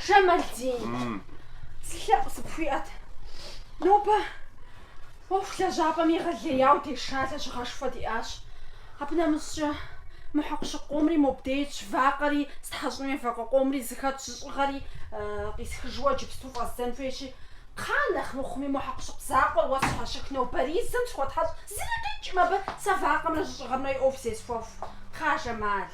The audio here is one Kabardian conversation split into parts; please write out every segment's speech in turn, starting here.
Жамалдин. Зы лъэӏу сыпхуиӏэт. Нобэ ӏуэху лэжьапӏэм егъэлеяу деша, лэжьыгъэшхуэ диӏащ. Абы нэмыщӏкӏэ мы хьэкъущыкъу къомри мобде итщ, вакъэри стхьэщӏынуи вакъэ къомри зыхэтщ, жьыщӏыгъэри къисхыжу иджыпсту фӏэздзэн хуейщи, кхъа нэхъ мыхъуми мо хьэкъущыкъу закъуэр уэ сщхьэщых, нобэризым схуэтхьэщӏ, зыри къикӏкъым абы, сэ вакъэмрэ жьыщӏыгъэмрэ и ӏуэху зесхуэху. Кхъа Жамал.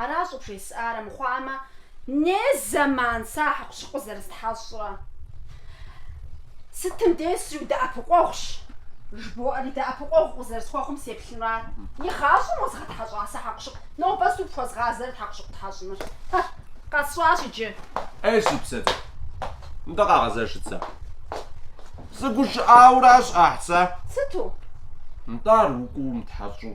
Аращ щӏыбжесӏар, армыхъуамэ, не зэман сэ а хьэкъущыкъур зэрыстхьэщӏрэ. Сытым деж сридэӏэпыкъуэгъущ, жыбоӏэри, дэӏэпыкъуэгъу укъызэрысхуэхъум сеплъыну ара. И гъащӏэм уэзгъэтхьэщӏа сэ хьэкъущыкъу? Нобэ сыту пхуэзгъазэрэ хьэкъущыкъу тхьэщӏыныр? Хэ, къэсщӏащ иджы. Ей, си псэ, мыдэ къэгъэзэжыт сэ. Сыгушыӏауэращ, ӏэхь, сэ. Сыту? Нтӏэ ар укӏуэу умытхьэщӏу.